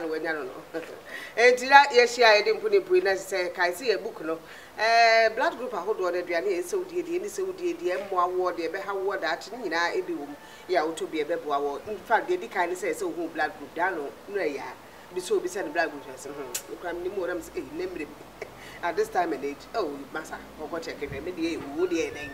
na wanya no no. Enti na yɛhyia a yɛde mpo ne bue na ɛsɛ sɛ yɛkae sɛ yɛn book no ɛɛ blood group ahodoɔ no aduane a ɛsɛ sɛ wodie deɛ ɛni sɛ wodie deɛ ɛmmoa woɔ deɛ ɛbɛha woɔ daakye ne nyinaa ebi wɔ mu yɛ a wotɔ bi a ɛbɛboa woɔ in fact deɛ ɛdi kan ne sɛ ɛsɛ wohu wo blood group daa no no ɛyɛ a bi sɛ obisa ne blood group na ɔsɛ hmm me koraa menim o na mesɛ ei na mmerɛ bi at this time and age oh masa kɔkɔ check hwɛ me deɛ ɛyɛ o wo deɛ ɛyɛ dɛn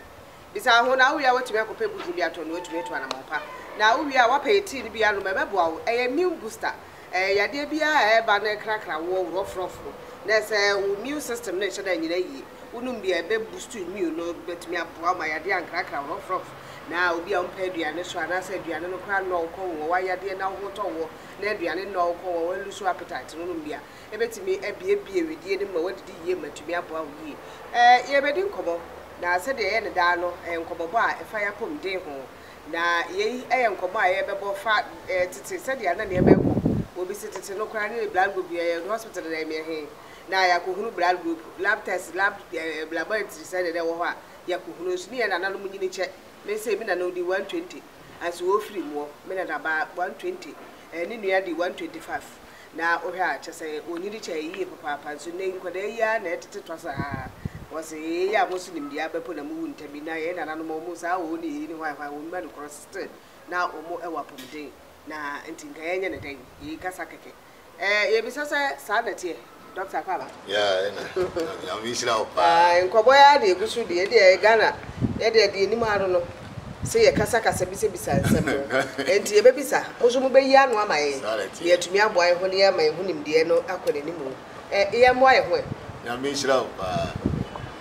Bisa wo ho, na wowie a woatumi akɔpɛ booster bi atɔ na woatumi atu anammɔn pa. Na wowie a woapɛ yɛ tea no bi anom a, ɛbɛboa wo. Ɛyɛ immune booster. Ɛɛ, yadeɛ biara a ɛreba na ɛkrakra woɔ, wo rough-rough no, na ɛsɛ sɛ wo immune system no nhyɛ da nnyina yie. Wonom bi a, ɛbɛboost wo immune no, ɛbɛtumi aboa wo ma yadeɛ ankrakra wo rough-rough. Na obi a wompɛ aduane so anaasɛ aduane no koraa nnɔ wo kɔn wɔ w'ayadeɛ na wo ho tɔ woɔ, na aduane nnɔ wo kɔn wɔ wo a, ɛlusu appetite no, wonom bi a, Ebetumi abuebue wedeɛ no mu ma woadidi yie ma atumi aboa wo yie. Ɛɛ, yɛrebɛdi nkɔmmɔ, na sɛdeɛ ɛyɛ no daa no, ɛyɛ nkɔmmɔbɔ a ɛfa yɛn apɔmuden ho. Na yei yɛ nkɔmmɔ a yɛrebɛbɔ fa ɛɛ tete, sɛdeɛ a na nneɛma rekɔ. Obi se tete no koraa ne ne blood group yɛyɛ no hospital dada yɛ mmea he na yɛakɔhunu blood group, lab test, lab ɛɛ laboratory sɛdeɛ na ɛwɔ hɔ a yɛakɔhunu. Nso ne yɛn nananom nyini kyɛ. Me sei, me nana odi 120, anso wɔrefiri muɔ. Me nanabaa 120, ɛɛ ne nua di 125. na wohwɛ a kyɛsɛ wɔnyi de kyɛɛ yie papaapa nso nnɛ yi nkwadaa yi ara na ɛtete twa saa wɔse yei a mo so nimdeɛ abɛ po na mo wu ntɛm yi na yɛn nananom a wɔn saa wɔn ne yei ne hwan hwan wɔn ma no korɔ still na wɔn ɛwɔ apɔmuden na nti nka yɛnyɛ ne dɛn yei kasa kɛkɛ ɛɛ yɛbisa sɛ saa na ɛteɛ Doctor Kwabaa. Yeah ɛna nyame nhyira wo paa. Ah nkɔbɔ yi ara de egu so deɛ ɛdeɛ ɛyɛ Ghana yɛ deɛ deɛ ɛnim ara no se yɛ kasa kasa bisa bisa nsɛm no ɛnti yɛ bɛ bisa mo so mo bɛ yi ano ama yɛn na yɛ tumi aboa yɛ ho na yɛ ma yɛ ho nimdeɛ no akɔ n'anim no ɛ yɛ mmoa yɛ ho ɛ. Nyame nhyira wo paa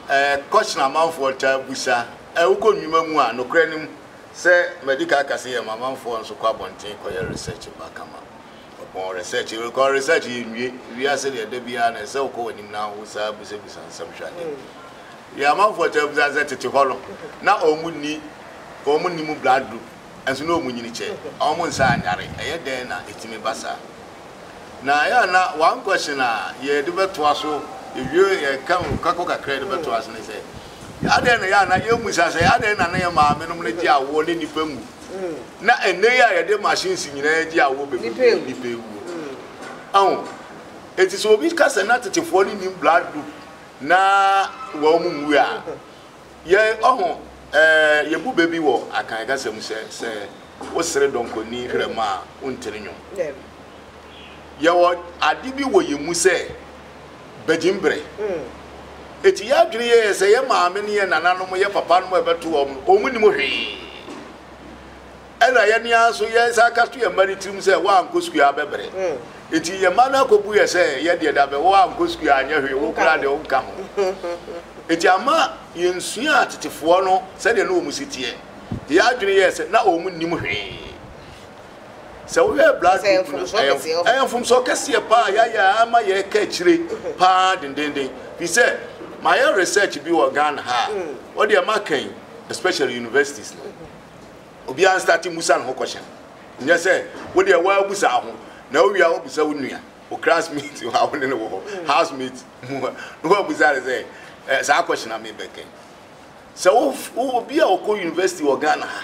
ɛ question amanfoɔ taa bisa ɛ wokɔ nnwuma mu a nokorɛ no mu sɛ madi kan aka se yɛ ma amanfoɔ nso kɔ abɔnten kɔ yɛ research ba kama Mepɔn research yi rekɔ research yɛ nwie wiase deɛ da biara na ɛsɛ wokɔ w'anim na wo saa busabisa nsɛm hwɛ adeɛ deɛ amanfoɔ kyɛ busa sɛ tete hɔ no na ɔmu ni ɔmu ni mu blood group ɛnso na ɔmu nyini kyɛ ɔmu nsa anyare ɛyɛ dɛn na ɛtumi ba saa na ɛyɛ na one question a yɛde bɛtoa so ɛwie yɛka kakɔ kakra yɛde bɛtoa so ne sɛ adɛn na ɛyɛ na yɛmusa sɛ adɛn na na yɛ maame nom no gye awoɔ ne nipa mu na ɛnnɛ yi a yɛde machines nyinaa gye awoɔ bɛbɛbu no nipa ewuo aho eti sɛ obi ka sɛ na tetefoɔ no nim blood group na wɔn mu nwu a yɛ ɔho ɛɛ yɛbu bɛ bi wɔ akan kasa mu sɛ sɛ wosere dɔnkɔni krɛm a wontene nwom yɛwɔ ade bi wɔ yɛn mu sɛ Bagyim bere. Enti yɛn adwene yɛ sɛ yɛn maame ne yɛn nananom, yɛn papanom a yɛbɛto wɔn no, wɔn nnim hwee. Ɛna yɛn ara nso yɛsan ka to yɛn mma no tirim sɛ, woankɔ sukuu a abɛbrɛ. Enti yɛn mma no akɔbu yɛn sɛ, yɛn deɛ da bɛ, woankɔ sukuu a anyɛ hwee, wo koraa deɛ wonka ho. Enti amma yɛnsuaa tetefoɔ no sɛdeɛ na wɔn si teɛ. Enti yɛn adwene yɛɛ sɛ na wɔn nnim hwee. Sɛ wohwɛ blood Sɛ group no, mfomsoɔ ɛyɛ kɛseɛ mf- wɔ ɛyɛ mfomsoɔ kɛseɛ paa a yɛayɛ a ama yɛreka akyire paa dendenden. Firi sɛ mayɛ research bi wɔ Ghana ha a, wodeɛ maka yi, especially universities no, obiara nstate mmusa ne ho question. Nyɛ sɛ wodeɛ woabusa wo ho, na wowie a woabusa wo nua, wo classmate a wo ne no wɔ hɔ, housemate mu a, na woabusa no sɛ, "Eh, saa question a mebɛka yi, Sɛ wo wo obi a ɔkɔ university wɔ Ghana ha,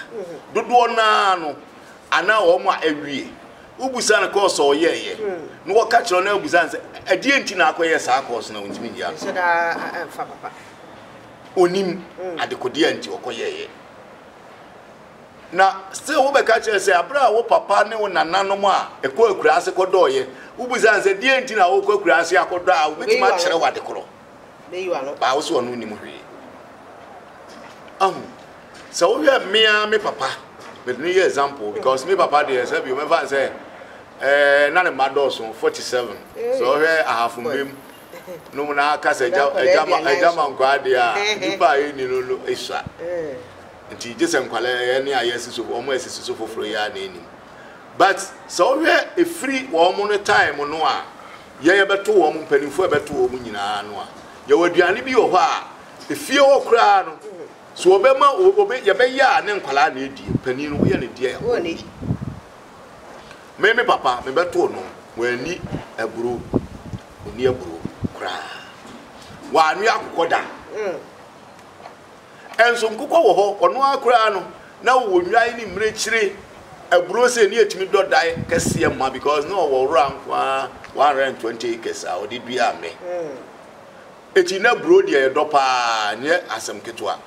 dodoɔ naa no anaa wɔn a awie, wobusa no course a ɔyɛɛyɛ na wɔka kyerɛ no na wobusa no sɛ ɛdeɛ nti na akɔyɛ saa course na ɔntumi nyɛ ano. Nhyɛ daa mfa papa. Onim adekodeɛ a nti ɔkɔyɛɛyɛ. Na still wobɛka kyerɛ sɛ abere a wo papa ne wo nananom a ɛkɔ akuraase kɔdɔɔyɛ, wobusa no sɛ deɛ nti na wokɔ akuraase akɔdɔ a wobɛtumi akyerɛ wo adekorɔ. Baa wo sɛ ɔno nnim hwee. Ahu sɛ wohwɛ me ara me papa mede no yɛ example because me papa deɛ sɛ bi wobɛfa n sɛ eh, na ne mma dɔɔso 47 sɛ wohwɛ ahafo mmam no mu na aka sɛ agya ma nkwaa deɛ a nnipa a ɛnni no no ɛsua nti gye sɛ nkwalɛ ɛyɛ ne ayɛ si so wɔn a ɛsi so foforɔ yi a na ɛnim but sɛ wohwɛ ɛfiri wɔn no time no a yɛn yɛbɛto wɔn, mpanimfoɔ yɛbɛto wɔn nyinaa no a, yɛwɔ aduane bi wɔ hɔ a, efie hɔ koraa no, so ɔbɛma obe yɛbɛyɛ a ne nkwadaa na edie, panin no woyɛ ne deɛ a wɔn di. Me me papa mebɛto no, wɔn ani aburo, oni aburo koraa, wɔn anwe akokɔ da. Mm. Nso nkokɔ wɔ hɔ, ɔno ara koraa no, na ɔwɔ nnwan ne mmirekyire, aburo sei ne ɛtumi dɔ dae kɛseɛ ma because na ɔwɔ wura nko ara 120 acres a ɔde dua mmɛ. Ɛti na aburo deɛ ɛdɔ paa, nyɛ asɛm ketewa.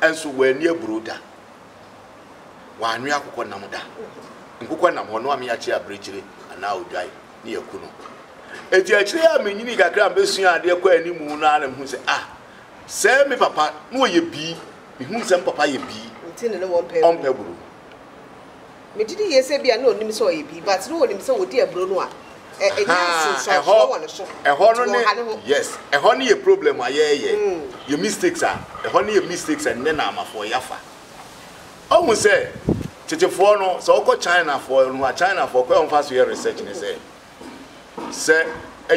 Nso wanni aburo da. Wanwe akokɔ nam da. Nkokɔ nam hɔ, ɔno ara meakye abirekyire anaa odwan ne yɛku no. Ɛti akyire a menyini kakra a mebɛsua adeɛ kɔ anim no ara na mehu sɛ ah, Sɛ me papa na ɔyɛ bi, mehunu sɛ me papa yɛ bi, Nti no na wɔmpɛ aburo. ɔmpɛ aburo. Megye di yie sɛ ebia na ɔnim sɛ ɔyɛ bi, but na ɔnim sɛ ɔdi aburo no a, ɛ, ɛnya Haa, ɛhɔ, nsunsuansoɔ wɔ ne so, ɛhɔ nti no ne, wɔnha ne ho. yes, ɛhɔ ne yɛ problem a yɛɛyɛ, yɛ mistakes a, ɛhɔ ne yɛ mistakes a nnɛ Naamafoɔ yɛafa. Ɔhu sɛ, tetefoɔ no, sɛ ɔkɔ Chinafoɔ no hɔ a, Chinafoɔ, kwan a wɔfa so yɛ research ne sɛ, Sɛ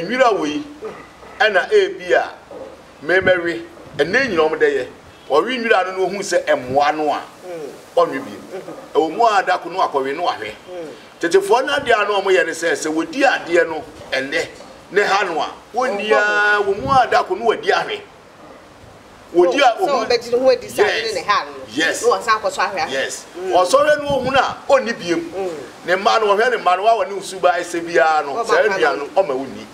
nwira wei na ebia memɛwe, ɛnnɛ nyina wɔn dɛ yɛ, ɔwe nwira no na ohun sɛ ɛmoa no a, ɔnwe biom. Ɛwɔ mu a da ko no wakɔwe na wahwɛ. Tetefoɔ no adeɛ a na wɔn yɛ ne sɛ, sɛ wɔdi adeɛ no ɛnnɛ na ɛha no a, wɔnni ara, ɛwɔ mu a da ko no wadi ahwɛ. wɔdi a ohun yes yes yes ɔsɔre no ohun a ɔnni biem ne mma no ɔhwɛ ne mma no wa wɔne osu ba ɛsɛ biara no saa nnua no ɔma wonni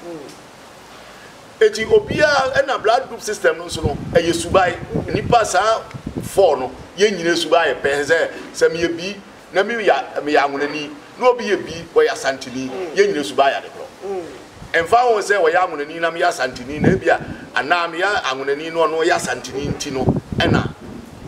eti obiara ɛna blood group system no nso no ɛyɛ subae nipa saa fɔɔ no yɛn nyinaa subae yɛ pɛn sɛ sɛ meyɛ bi na me yɛ meyɛ anwonani na obi yɛ bi ɔyɛ asanteni yɛn nyina suban yɛ ade korɔ ɛmfa ho sɛ ɔyɛ anwonani na meyɛ asanteni na ebia anaa meyɛ anwonani na ɔno ɔyɛ asanteni nti no ɛna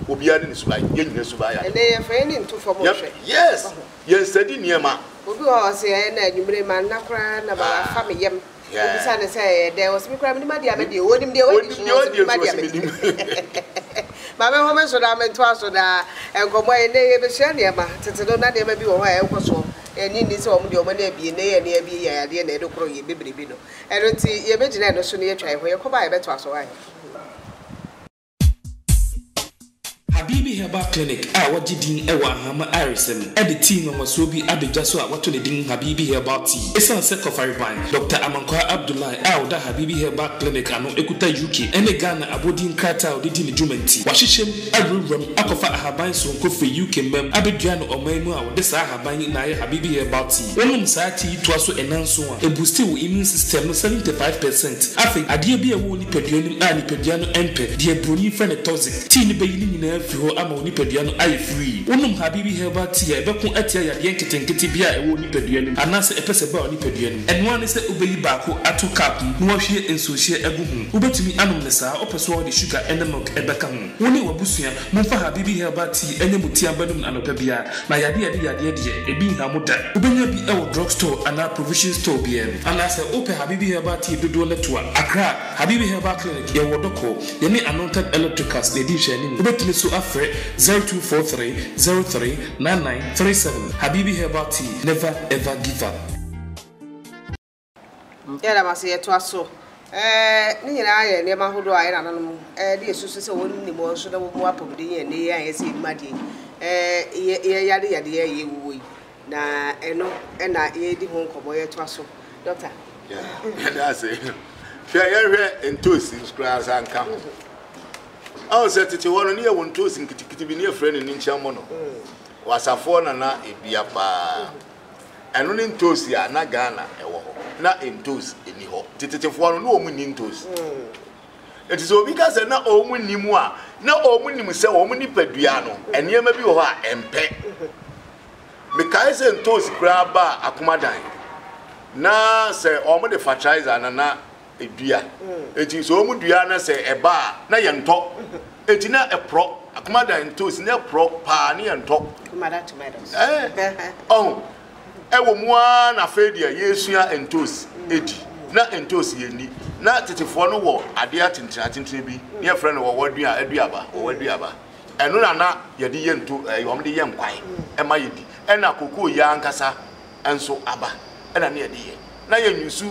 obiara ne ne suban yɛn nyina suban yɛ ade ɛnɛ yɛmfa yɛn ni nto fam nhwɛ yes yɛn sadi nneɛma obi wɔ hɔ ɔse ɛna anwummere manna koraa na baba afa me yam Wobisa no sɛ, Ɛyɛ dɛn? Ɔse, Me koraa menim adeɛ a mɛdeɛ o. Onim deɛ wadi so, ɔse, Menim adeɛ a mɛdi so. Ma menho me so na mentoa so na nkɔmmɔ a ɛnnɛ yɛbɛsua nneɛma. Tete no, na nneɛma bi wɔ hɔ a ɛnkɔ soɔ. Ɛnnye nni sɛ wɔn deɛ wɔn ani abue, nnɛ yɛn ani abue yɛ adeɛ na ɛde korɔ yɛn bebrebe no. Ɛno nti, yɛbɛgyina ɛno so na yɛatwa yɛn ho. Yɛkɔba a yɛbɛtoa so ahe? Habibi Herbal Clinic a wɔagye din wɔ Ahama ayaresa mu de tea nwanwasoɔ bi aba dwa so a wɔato ne din Habibi Herbal Tea. Ɛsiane sɛ Kɔfareban, Dɔkta Amankwaa Abdullahi a ɔda Habibi Herbal Clinic ano kuta UK ne Ghana abɔdin nkrataa a ɔde di ne dwuma nti, wɔahyehyɛ mu awurawura mu akɔfa ahaban soronko firi UK mma mu abɛdua no ɔman mu a wɔde saa ahaban yi na ayɛ Habibi Herbal Tea. Wonom saa tea yi toa so nnanson a, ɛbuusti wo immune system no 75 percent. Afei, adeɛ bi a ɛwɔ wo nipadua no mu a nipadua no mpɛ, deɛ buroni frɛ no toxic tea no bɛyi ne nyinaa afiri hɔ ama wo nipadua no ayɛ free. Wonom Habibi herbal tea a ɛbɛko atia yadeɛ nketenkete biara a ɛwɔ wo nipadua no mu anaasɛ ɛpɛ sɛ ɛba wo nipadua no mu. Ɛno ara ne sɛ wobɛyi baako ato cup mu na woahwie nsuohyeɛ agu ho. Wobɛtumi anom no saa, wopɛ so a wode sugar ne milk bɛka ho. Wo ne w'abusua. Momfa Habibi Herbal Tea nyɛ mo ti abanum anɔpa biara, na yadeɛ a ɛde yadeɛ deɛ, ebi nha mo da. Wobɛnya bi wɔ drug store anaa provision store biara mu. Anaa sɛ wopɛ Habibi Herbal Tea dodoɔ no to a, Accra, Habibi Herbal Clinic, yɛwɔ Dɔkɔ. Yɛne Anonted Electricals na ɛdi nhwɛanim. Wobɛtumi nso afrɛ 0243 03 99 37. Habibi Herbal Tea, never ever give up. Yɛda mo ase. Yɛtoa so. Ne nyinaa yɛ nneɛma ahodoɔ a yɛn nananom de asusu sɛ wɔn nim wɔn so na wɔmu apɔmuden yɛ nnɛ yi a yɛsɛ yɛnim adeɛ yi. Yɛyare yadeɛ a ɛyɛ wuo yi, na ɛno na yɛredi ho nkɔmmɔ. Yɛtoa so, Dɔkta. Yɛda ase. Hwɛ, yɛnhwɛ ntoosi koraa nsa nka ho. Ɔn sɛ tete hɔ no, ne yɛwɔ ntoosi nketekete bi, ne yɛfrɛ no ninkyɛmmɔ no. Wɔ asafoɔ na na ɛdua paa. Ɛno ne ntoosi a na Ghana wɔ hɔ. Na ntoosi nni hɔ. Tetetefoɔ no, na wɔn nni ntoosi. Nti sɛ obi ka sɛ na wɔn nni mu a, na wɔn nim sɛ wɔn nipadua no, nneɛma bi wɔ hɔ a ɛmpɛ. Mekae sɛ ntoosi koraa baa Akomadan, na sɛ wɔde fertilizer na na dua. Enti sɛ wɔn dua na sɛ ɛba a na yɛn tɔ. Enti na ɛporɔ. Akoma da ntos na ɛporɔ paa ne yɛn tɔ. Akoma da tomatoes. Eh, ɔho. Ɛwɔ mu ara na afei deɛ yɛresua ntos edi. Na ntos yɛ ni. Na tetefoɔ no wɔ adeɛ atentene atentene bi ne yɛfrɛ no wɔwɔ dua aduaba wɔwɔ aduaba. Ɛno na na yɛde yɛ nto ɛɛ wɔn de yɛ nkwan ɛma yɛdi. Ɛna kokoo yɛ ankasa. nso aba na ne yɛde yɛ na yɛ nyusu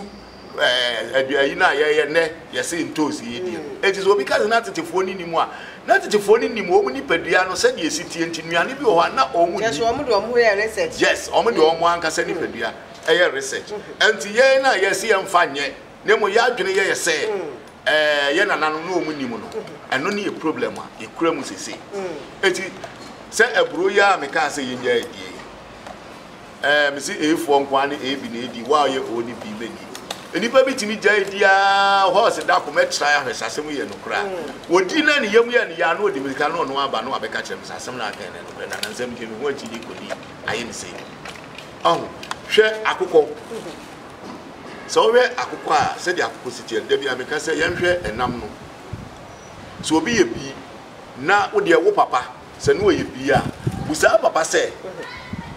ɛɛ aduane yi no a yɛyɛ nɛ yɛse ntoosi yɛ die no enti sɛ obi ka sɛ na tetefoɔ no nim a na tetefoɔ no nim wɔn nipadua no sɛdeɛ ɛsi tie nti nnuane bi wɔ hɔ a na wɔn nni kyɛso wɔn de wɔn ho yɛ research yes wɔn de wɔn ankasa nipadua ɛyɛ research nti yɛn na yɛse yɛn fa nyɛ na mmom yɛ adwene yɛyɛ sɛ ɛɛ yɛ nana no na wɔn nim no ɛno ne yɛ problem a yɛkura mu sese eti sɛ aburo yɛ a mekaa sɛ yɛnya adie Ɛɛ, mese A foɔ nko ara ne A bi na ɛdi, wo a woyɛ O ne B mɛdi. Nnipa bi tumi gyae di ara, horse da koma tirae ahwɛ sɛ asɛm yi yɛ nokorɛ a. Wɔdi na ne yam yɛ no yɛ a, na ɔde mmirika na ɔno aba na wabɛka kyerɛ me sɛ asɛm no a ɔkae no yɛ nokorɛ, na nnansa megyae me ho akyi de kɔdi ayɛ me sei. Ɔho, hwɛ akokɔ. Sɛ wohwɛ akokɔ a, sɛdeɛ akokɔ si teɛ no, da biara meka sɛ yɛnhwɛ ɛnam no. Sɛ obi yɛ bi na wo deɛ wo papa, Sɛ Noa yɛ biribi a, busa ne papa sɛ,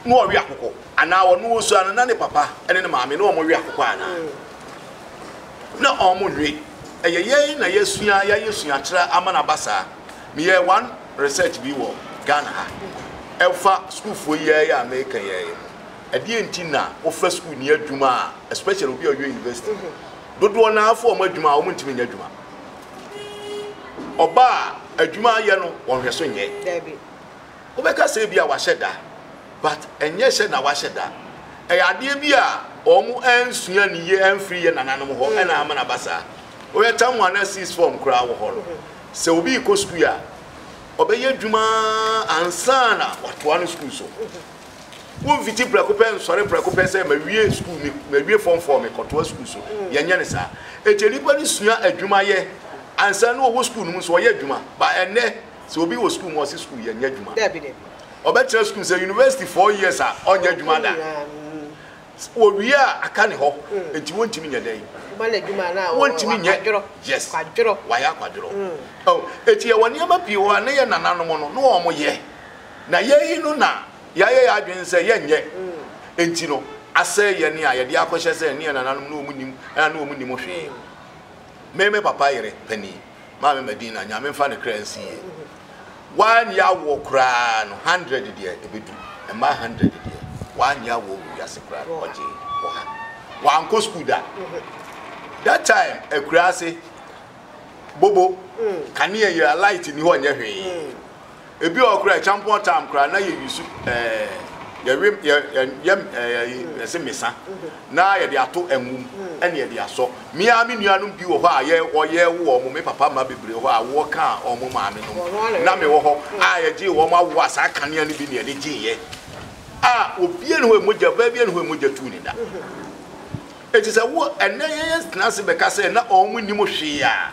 Noa we akokɔ? Anaa ɔno osua no, na ne papa ne ne maame na wɔwe akokɔ anaa? Na wɔnwe. Ɛyɛ yɛn na yɛasua, yɛayɛ suakyerɛ ama no aba saa. Meyɛɛ one research bi wɔ Ghana ha, ɛfa sukuufoɔ yi ara yi a mereka yi ara yi ho. Ɛdeɛn nti na wofa sukuuni adwuma a, especially obi a ɔyɛ university, dodoɔ no ara fa wɔn adwuma a, wɔntumi nyɛ adwuma. ɔbaa a adwuma ayɛ no wɔn hwɛ so nyɛ dabi wobɛka sɛ bi a wahyɛ da but ɛnyɛ hyɛ na wahyɛ da ɛyɛ adeɛ bi a wɔn ɛnsua ne yie ɛnfiri yɛ nananom hɔ ɛna ama na basa woyɛ tam wɔn ana six form koraa wɔ hɔ no sɛ obi kɔ sukuu a ɔbɛyɛ adwuma ansana watoa no sukuu so. Womfiti prɛko pɛ nsɔre prɛko pɛ sɛ mawie sukuu me mawie fɔm fɔɔ me kɔtoa sukuu so. Mm. Yɛnyɛ ne saa. Eti nipa no sua adwuma yɛ ansa na ɔwɔ sukuu no mu nso ɔyɛ adwuma. Ba ɛnɛ sɛ obi wɔ sukuu mu ɔsi sukuu yɛ nyɛ adwuma. Dabi dabi. Ɔbɛtena sukuu sɛ university four years a ɔnyɛ adwuma da. Owie a aka ne hɔ. Mm. Eti wɔntumi nyɛ dɛn. Ɔba na adwuma na wɔntumi nyɛ. Yes. Kwadworɔ. Wayɛ akwadworɔ. Mm. Oh, eti yɛ wɔ nneɛma pii wɔ a ne yɛ nananom no na wɔn yɛ. na yɛayi no na yɛayɛ yɛn adwene sɛ yɛnyɛ nti no asɛe yɛn a yɛde akɔhyɛ sɛ ne yɛn nananom na wɔn nim ɛna ne wɔn nim hwee me me papa yere panin maame madina nyame mfa ne kra nsi yie wanyɛ awoɔ koraa no hundred deɛ ebedu mmaa hundred deɛ wanyɛ awoɔ wɔ wiase koraa no ɔgye wɔ ha wankɔ sukuu da that time akura ase bobo mm. kanea yɛ light ni hɔ nyɛ hwee. Mm. Ebi wɔ hɔ koraa a, champon time koraa na yɛ use ɛɛ yɛwe yɛ yɛ ɛɛ yɛse mesa na yɛde ato ngo mu ɛna yɛde asɔ. Me ara me nuanom bi wɔ hɔ a yɛ wɔyɛ wowɔ wɔn, me papa mma bebree wɔ hɔ a woɔ kaa wɔn maame nom na me wɔ hɔ a yɛgyee wɔn awoɔ a saa kanea no bi na yɛde gyeeɛ a obiara nni hɔ a mogya, ɔbaa biara nni hɔ a mogya tuu ne da. Enti sɛ wo ɛnnɛ yɛtena ase bɛka sɛ na wɔn nnim hwee a.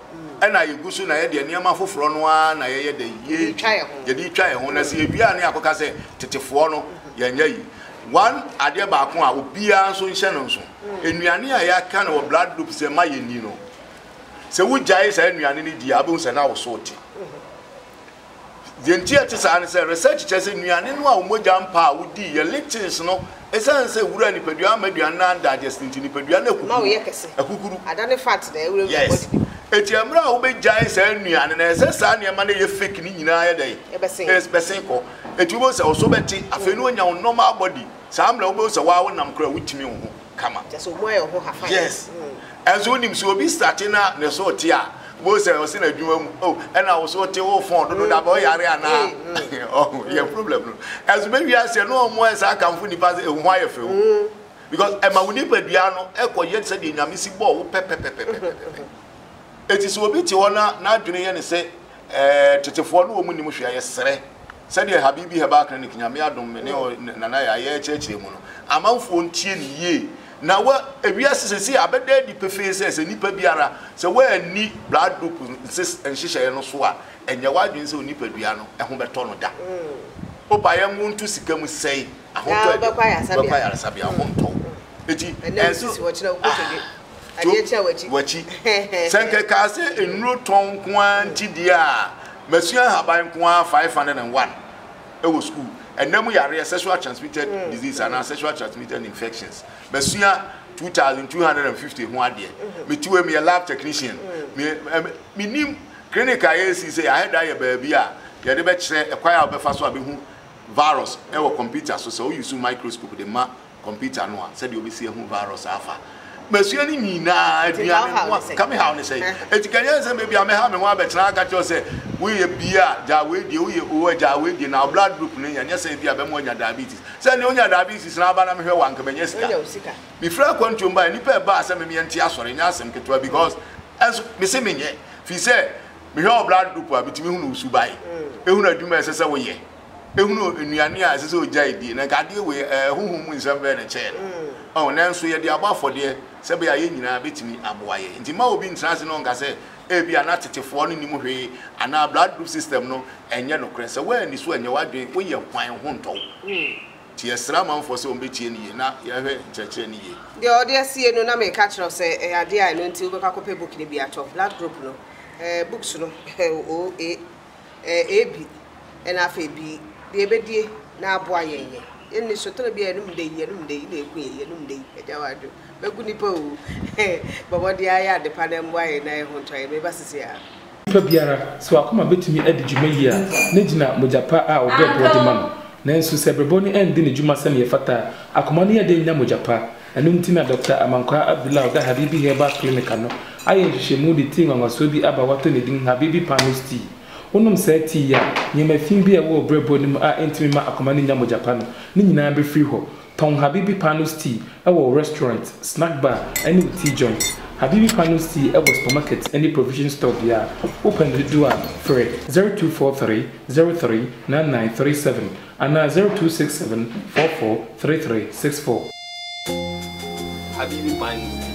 na yɛgu so na yɛdeɛ nneɛma foforɔ no ara na yɛyɛ dɛ yɛtwa yɛn ho yɛde twa yɛn ho na sɛ yɛwie a ne yɛakɔka sɛ tetefoɔ no yɛnyɛ yi one adeɛ baako a obiara nso nhyɛ no nso nnuane a yɛaka no wɔ blood group sɛ ma yɛni no sɛ wogyae saa nnuane no di a wobɛhu sɛ na wo so te Deɛ nti a ɛte saa ne sɛ, research kyerɛ sɛ nnuane no a wo mogya mpa a wodi yɛ lectins no, ɛsiane sɛ wura a nipadua amma aduane no andigest nti, nipadua no akukuru. Akukuru. Yes. Enti ɛmmerɛ a wobɛgyae saa nnuane no, ɛsɛ saa nneɛma no a ɛyɛ fake no nyinaa yɛ dɛn? Ɛbɛsen. Bɛsen kɔ. Enti wobɛhu sɛ wo so bɛte, afei na wonya wo normal body. Saa mmerɛ wobɛhu sɛ wo ara wonam koraa a wotumi wo ho. kama. Kyɛ sɛ ɔmo ayɛ ɔho hafan. Yes ɛnso wonim sɛ obi starte na ne so te a wobɛhu sɛ ɔse na adwuma mu oh ɛna wo so te wo fon dodo da bɛ ɔyare anaa ɔho yɛ problem no ɛnso bɛwie aseɛ na ɔmo ayɛ saa kamfo nipa sɛ ehu ho ayɛ fɛ o because ɛma wo nipadua no ɛkɔ yɛ sɛdeɛ nyame si bɔɔ wo pɛpɛpɛpɛpɛpɛ eti sɛ obi te hɔ na n'adwene yɛ ne sɛ Ɛɛ tetefoɔ no wɔn nnim hwee a yɛsrɛ sɛdeɛ Habibi Herbal Clinic Nyame adom me ne Nana Yah yɛ kyerɛkyerɛ mu no amanfoɔ ntie no yie na wa ewiase sɛsei abɛda adi pefee sɛ sɛ nipa biara sɛ wanni blood group nhyehyɛeɛ no so a ɛnyɛ wadwene sɛ onipadua no ho bɛtɔ no da. Opa yɛnwo nto sika mu sɛe. ahontɔ a ɛbɛba wobɛkɔ ayaresabea wo ho ntɔ wo eti ɛnso to wakyi sɛ nkekaa sɛ nnuro tɔn nko ara nti deɛ a masua ahaban nko ara five hundred and one ɛwɔ sukuu ɛnna mu yareɛ sexual transmitted mm. disease anaa mm. sexual transmitted infections masua two thousand two hundred and fifty ho adeɛ mm-hmm. metiwe meyɛ lab technician mm. menim clinic a yɛsi sɛ yɛahɛda yɛ baabi a yɛde bɛkyerɛ ɛkwan a wobɛfa so a bɛhu Virus wɔ kɔmputa so, sɛ wo use microscope de ma kɔmputa no a sɛdeɛ wobɛsi ahu virus afa masua no nyinaa aduane no ho a ka me haw ne sɛe ɛti ka nyɛ nsɛm baabi a mɛha me ho abɛtena aka kyerɛ sɛ woyɛ bi a gyaa wei die woyɛ o a gyaa wei die na wo blood group no yɛ nyɛ sɛ bi a bɛma wanya diabetes sɛ ne wonya diabetes na aba na mehwɛ wɔ anka manya sika mefiri akwantuom ba nnipa ɛbaa sɛ memeɛ nte asɔre nyɛ asɛm ketewa because ɛnso mese menyɛ firi sɛ Mehwɛ wo blood group a, metumi hunu wo suban, hunu adwuma a ɛsɛ sɛ woyɛ, hunu nnuane a ɛsɛ sɛ ogyae die. Na nka adeɛ wei, ɛɛ, honhom mu nsɛm bɛyɛ na ɛkyɛɛ no. Ɔho, nanso yɛde abɔ afɔdeɛ sɛ ɛbɛyɛ a yɛn nyinaa bɛtumi aboa yɛn. Nti mma obi ntena ase na ɔnka sɛ ebi a na tetefoɔ no nnim hwee anaa blood group system no ɛnyɛ nokorɛ. Sɛ woanni so anyɛ w'adwene, woyɛ hwan ho ntɔ wo. Nti yɛsrɛ amanfoɔ sɛ wɔbɛtie no yie na yɛahwɛ nkyerɛkyerɛ no yie. Deɛ ɔde asie no na meka akyerɛ wo sɛ ɛyɛ adeɛ a ɛno nti wobɛkɔ akɔpɛ book no bi atɔ, blood group no eh, books no eh, O, A, eh, AB ɛna afei B, deɛ ɛbɛdie na aboa yɛn yɛ. Yɛnni sotere biara, yɛnom dɛ yi, yɛnom dɛ yi na ɛku yɛn, yɛnom dɛ yi, agya wadwo, mɛku nipa o, eh, bɔ mmɔden ara yɛ adepa na mmoa yɛn na yɛho ntɔ yɛn, meba seesei ara. Onipa biara, sɛ w'akoma betumi adi dwuma yiye a, na egyina mogya pa a ɔbrɛboɔ de ma no. Nanso, sɛ brɛboɔ no anndi ne dwuma sɛnea ɛfata a, akoma no yɛ den nya mogya pa. Ɛno nti na Dɔkta Amankwaa Abdullah a ɔda Habibi Herbal Clinic ano ayɛ nhwehwɛmu de tii nwanwasoɔ bi aba a wɔato ne din Habibi Panos Tea. Wonom saa tea yi a, nneɛma fi bi a ɛwɔ wo brɛboɔ no mu a entumi mma akoma no nnya mogya pa no, ne nyinaa befiri hɔ. Tɔn Habibi Panos Tea wɔ wo restaurant, snack bar ne wo tea joint. Habibi Panos Tea wɔ supermarket ne provision store biara. Wopɛ no dodoɔ a, frɛ 0243039937 anaa 0267443364. Habibi Panos Tea,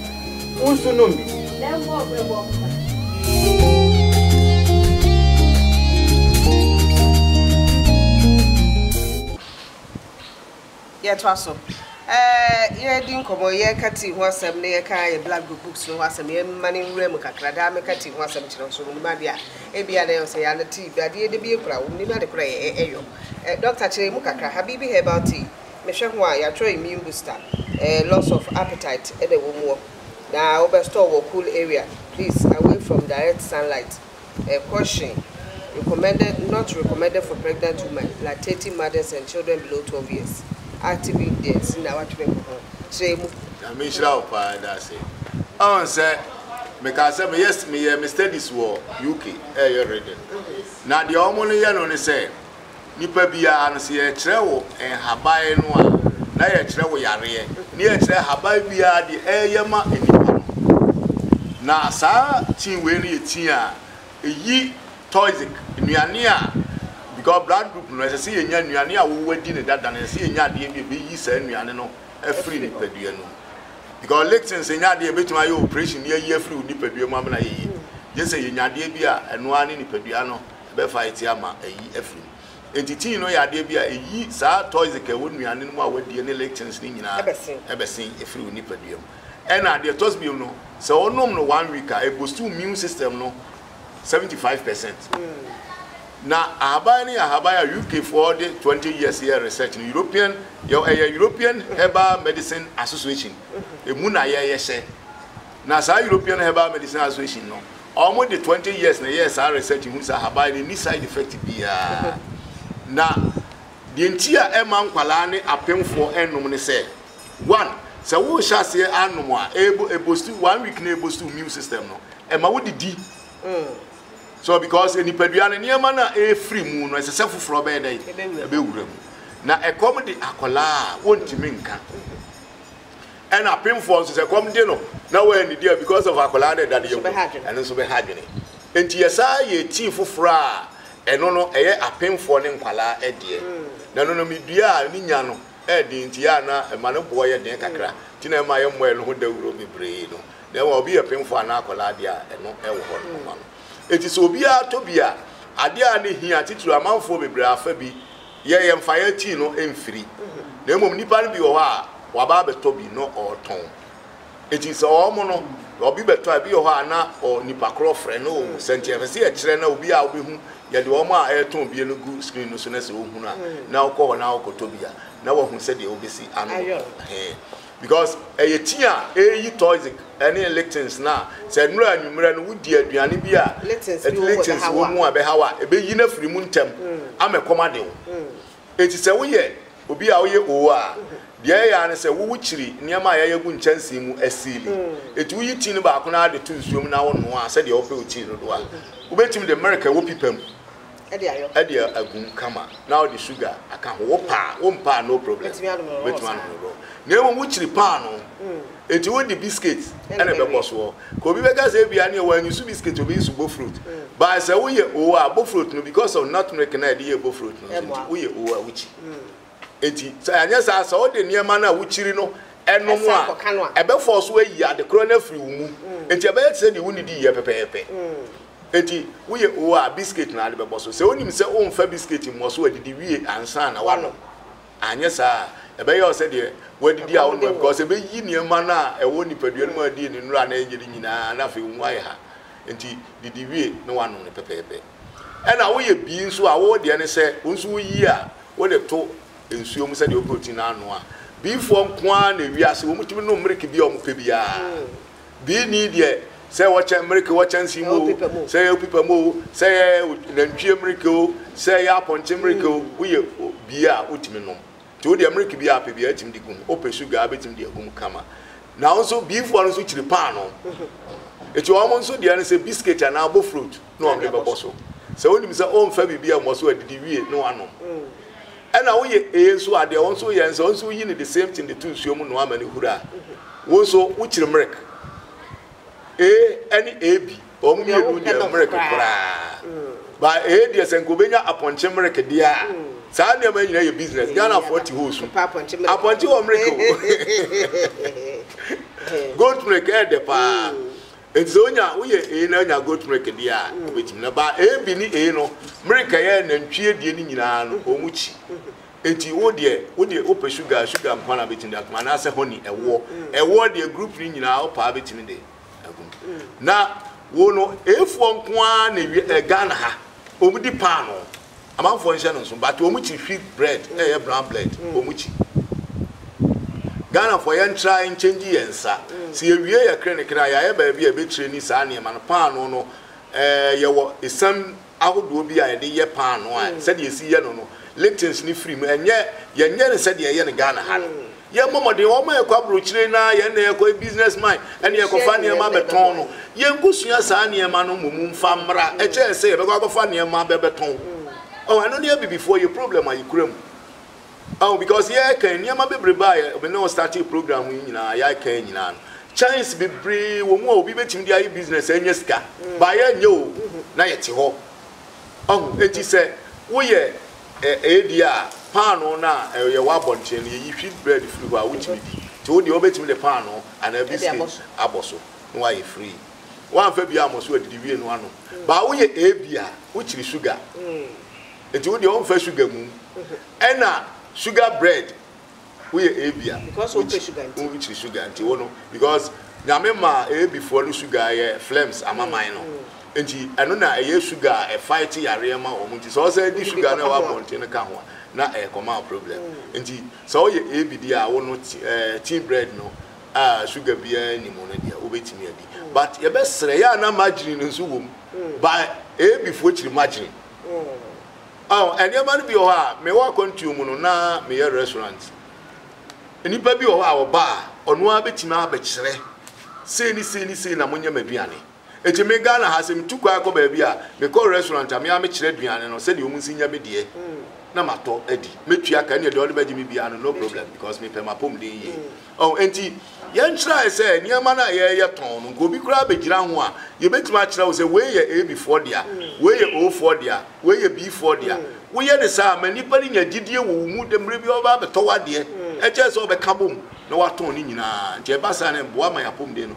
wo nso nom bi! Lɛnbɔɔ brɛbɔɔ mo ba. Yɛtoa so. Yɛredi nkɔmmɔ, yɛreka tea ho asɛm na yɛka yɛn Black Book books no ho asɛm. Yɛmma no nwura mu kakra. Daa meka tea ho asɛm kyerɛ wo, sɛ wonim adeɛ a. Ebia na ɛyɛ wo sɛ, Yaa na tea, adeɛ yɛda bi yɛ kura, wonim ade korɔ a ɛyɔ. Dɔkta, kyerɛ yɛn mu kakra. Habibi herbal tea, mehwɛ ho a, yɛatwerɛ immune booster, loss of appetite na ɛwɔ mu wɔ. Na wobɛ store wɔ cool area, please away from direct sunlight. ɛkɔhye recommended, not recommended for pregnant women, lactating mothers and children below 12 years, active ingredients na watwene ho ho. Kyerɛ mu. Nyame nhyira wo paa yɛda ase. Ɔn sɛ mekaa sɛ meyɛ meyɛ me studies wɔ UK ɛyɛ reading na deɛ ɔmo no yɛ no ne sɛ. Nipa biara no, sɛ yɛrekyerɛ wo nhaban no a, na yɛrekyerɛ wo yareɛ, na yɛrekyerɛ haban biara deɛ ɛreyɛ ma nipa no. Na saa tea wei no yɛ tea a ɛyi toxic, nnuane a, because blood group no, ɛsɛ sɛ yɛnya nnuane a wɔadi no dada no, ɛsɛ sɛ yɛnya adeɛ bi a ɛbɛyi saa nnuane no afiri nipadua no mu. Because lectins nyɛ adeɛ a yɛbɛtumi ayɛ operation de ayi afiri wo nipadua mu ama no ayɛ yie. Gye sɛ yɛnya adeɛ bi a ɛno ara ne nipadua no ɛbɛfa atia ama ayi afiri mu. Enti tii no yɛ adeɛ bi a ɛyi saa toxic a ɛwɔ nnuane no mu a woadie ne lectins no nyinaa bɛsen afiri wo nipadua mu. Ɛna deɛ ɛtɔ so bio no, sɛ wonom no one week a, ɛboosti wo immune system no seventy five percent. Na ahaban no yɛ ahaban a UK foɔ de twenty years yɛɛ research no, European, yɛwɔ, ɛyɛ European Herbal Medicine Association, ɛmu na yɛyɛ hyɛ. Na saa European Herbal Medicine Association no, wɔn de twenty years na ɛyɛɛ saa research hu sɛ ahaban no nni side effect biara. Na deɛ nti a ɛmma nkwadaa ne apemfoɔ nnom ne sɛ, one, sɛ worehyɛ aseɛ anom a, ɛbo ɛbosti one week na ɛbosti wo immune system no, ɛma wodidi. So because nipadua no nneɛma no a ɛrefiri mu no ɛsɛ sɛ foforɔ bɛyɛ dɛ ɛbɛwura mu. Na ɛkɔm de akwadaa a wɔntumi nka. Ɛna apemfoɔ nso sɛ kɔm de no na wannidi a because of akwadaa no ɛda no yam no ɛno nso bɛha adwene nti yɛsaa yɛɛ tea foforɔ a ɛno no ɛyɛ apemfoɔ ne nkwadaa deɛ na ɛno no medua a ne nya no ɛyɛ den nti yɛ a na ɛma ne boɔ yɛ den kakra nti na ɛma yɛmmɔ ɛno ho dawuro bebree no na ɛma obi yɛ apemfoɔ anaa akwadaa deɛ a ɛno ɛwɔ hɔ no ma no ɛti sɛ obiara tɔ bi a adeɛ a ne hia titiri amanfoɔ bebree afa bi yɛ yɛn fa yɛn tii no mfiri na mmom nnipa no bi wɔ hɔ a wɔaba abɛtɔ bi na ɔretɔn eti sɛ wɔn no obi bɛtɔ a ebi wɔ hɔ a na ɔ nipa korɔ frɛ no o sɛ nti ɛfɛ sɛ yɛkyerɛ na obi a wobɛhu yɛde wɔn a ɛretɔn bie no gu screen no so na sɛ ohunu a na ɔkɔ hɔ na ɔkɔtɔ bi a na wahu sɛdeɛ wobɛsi ano hee Because ɛyɛ tea a ɛreyi toxic ne lictins no a sɛ ɛnura anwummerɛ no wodi aduane bi a lictins wɔ mu a ɛbɛhaw a, ɛbɛyi no afiri mu ntɛm ama ɛkɔm ade wo. Enti sɛ woyɛ obi a woyɛ oo a, deɛ ɛyɛ ara ne sɛ wowokyiri nneɛma a yɛayɛ agu nkyɛnsee mu asiili. Enti woyi tea no baako no ara de to nsuo mu na wonoa sɛdeɛ wopɛ wo tea dodoɔ a. Wobɛtumi de merek a ɛwɔ pipa mu de agu mu kama na wode sugar aka ho. Wopɛ a, wompɛ a no problem. Wobɛtumi anom no raw saa. Wobɛtumi anom no raw. Na mmom wokyiri paanoo. Enti wode biscuit na ɛbɛbɔ soɔ. Ka obi bɛka sɛ ebia neɛ wɔn use biscuit, obi use bofrot. But sɛ woyɛ oo a, bofrot no because of nutmilk no a yɛde yɛɛ bofrot no nso nti, woyɛ oo a wokyi. Enti, sɛ anyɛ saa a, sɛ wode nneɛma no a wukyiri no nom a, ɛbɛfɔw so ayi adekora no afiri wo mu. Enti ɛbɛyɛ te sɛ deɛ wunnidi yɛ pɛpɛɛpɛ. Enti, woyɛ oo a, biskit na wode bɛbɔ so. Sɛ wunim sɛ womfa biskit mmɔ so adidi wie ansa na woanom a, anyɛ saa a, ɛbɛyɛ wo sɛ deɛ woadidi a wonnom ɛ, because ɛbɛyi nneɛma no a ɛwɔ nipadua no mu a ɛdii ne nnora na ɛnyɛ de nyinaa, na afei wo mu ayɛ ha. Enti, didi wie na woanom no pɛpɛɛpɛ. Ɛna woyɛ bii nso a wo deɛ ne sɛ wo nso woyi a wode to nsuo mu sɛdeɛ wopɛ ɔti no anoa. Biifoɔ nko ara na ewiase wɔtumi nom mereke bi a wɔpɛ biara. Bii ni deɛ sɛ ɛwɔ kyɛ mereke wɔ kyɛnsee mu o, sɛ ɛyɛ opipa mu o, sɛ ɛyɛ nantwie mereke o, sɛ ɛyɛ apɔnkye mereke o, woyɛ bii a wotumi nom. Nti wo deɛ mereke biara apɛ biara tumi de gu mu, wopɛ sugar a wobɛtumi de agu mu kama. Na wo nso biifoɔ no nso kyiri paanoo. Nti wɔn nso deɛ ne sɛ biscuit anaa bofrot. na ɔde bɛbɔ so. Sɛ wonim sɛ ɔmfa biribi ammɔ so adidi wie na wanom. Ɛna woyɛ ee nso a, deɛ wo nso yɛ nso, wo nso woyi no the same thing de to nsuo mu noa ma no huru a, wo nso wokyiri mmerek. Ee ɛne ee bi, wɔn mmienu deɛ mmerek koraa. Ba ee deɛ sɛ nka obɛnya apɔnkye mmerek deɛ a, saa nneɛma nyina yɛ business. Ghanafoɔ te hɔ su. Apɔnkye wɔ mmerek o. Goat mmerek ɛɛdɛ paa. Enti sɛ onya woyɛ ee na onya goat milk deɛ a, obetumi na ba ee bi ne ee no milk a ɛyɛ nantwie adie no nyinaa no wɔn kyi. Enti wo deɛ wo deɛ wopɛ sugar a sugar nko ara na betumi de atom anaasɛ honey ɛwoɔ ɛwoɔ deɛ group no nyinaa wo paa betumi de agum. Na wo no eefoɔ nko ara na ewie ɛɛ Ghana ha wɔn di paanoo Amanfoɔ nhyɛ no nso but wɔn kyi wheat bread na ɛyɛ brown bread wɔn kyi Ghanafoɔ yɛn try nkyɛngyi yɛn nsa sɛ yɛ wie yɛ krenekre a yɛayɛ baabi a yɛbɛ treni saa nneɛma no paano no ɛɛ yɛ wɔ esam ahodoɔ bi a yɛde yɛ paano a sɛdeɛ yɛsi yɛ no no litins no firi mu ɛnyɛ yɛnyɛ no sɛdeɛ yɛyɛ no Ghana ha no Yɛn bɔ mmɔden, wɔn ma yɛkɔ abrokyire no ara, yɛn na yɛkɔ, yɛ business mind, ɛna yɛkɔfa nneɛma bɛtɔn no. Yɛn kosua saa nneɛma no mmom mfa mmra, ɛkyɛn sɛ yɛbɛkɔ akɔfa nneɛma bɛbɛtɔn. Ɔho, ɛno ne abibifoɔ yɛ problem a yɛkura mu. Ɔho, because yɛɛkɛn, nneɛma bebrebe a yɛ, me ne wo startee program yi nyinaa, yɛɛkɛn nyinaa no, chance bebree wɔ mu a obi bɛtumi de ayɛ business anya sika, but yɛɛnyɛ o, na yɛte hɔ. Ɔho, enti sɛ woyɛ. Ɛ, ebia paanoo no a ɛ, yɛwɔ abɔnten no, yeyi wheat bread firi hɔ a, wotumi di. Nti wo deɛ, wobɛtumi de paanoo anaa biskit abɔ so, na woayɛ free. Woamfa bi ammɔ so adidi wie no anom. Baa woyɛ ebi a, wokyiri sugar. Nti wo deɛ, womfa sugar mmom. Ɛna sugar bread. woyɛ ebi a because wo pɛ sugar nti wo kyiri sugar nti wo no because nyame ma ebi foɔ no sugar yɛ flames amaman no mm. nti ɛno na ɛyɛ sugar a ɛfa te yareɛ ma wɔn nti sɛ ɔsɛ di sugar na ɛwɔ abɔnten no ka ho a na ɛyɛ kɔma problem mm. nti sɛ ɔyɛ ebi di a wo no eh, tea bread no a sugar biara ni mu no deɛ wobɛtumi adi mm. but yɛbɛsrɛ yɛ a na margarine no nso wɔ mu ba ebi foɔ kyiri margarine Oh, nneɛma no bi wɔ hɔ a, mewɔ akwantuo mu no, na meyɛ restaurant. Nnipa bi wɔ hɔ a wɔba a, ɔno ara bɛtumi abɛkyerɛ sei ne sei ne sei na monyɛ m'aduane. Eti me Ghana ha sɛ metu kwan kɔ baabi a, mekɔ restaurant a, me ara mekyerɛ aduane no sɛdeɛ wɔn nsi nyɛ me deɛ na matɔ adi. Mɛtua ka, ɛnneɛ deɛ ɔde bɛgye me biara no, no problem because mepɛ m'apɔmuden yie. Ɔho enti, yɛnkyerɛe sɛ nneɛma no a yɛreyɛ tɔn no, nka obi koraa bɛgyina ho a, yɛbɛtumi akyerɛ wo sɛ wei yɛ Abifoɔ dea, wei yɛ Ofoɔ dea, wei yɛ Bfoɔ dea. Woyɛ no saa a, ma nnipa no nya gyidie wɔ wo mu dɛ mmerɛ biara ɔbɛba abɛtɔ w'adeɛ, ɛkyɛre sɛ ɔbɛka bom na watɔn ne nyinaa. Nti ɛba saa no, ɛboa ma yɛn apɔmuden no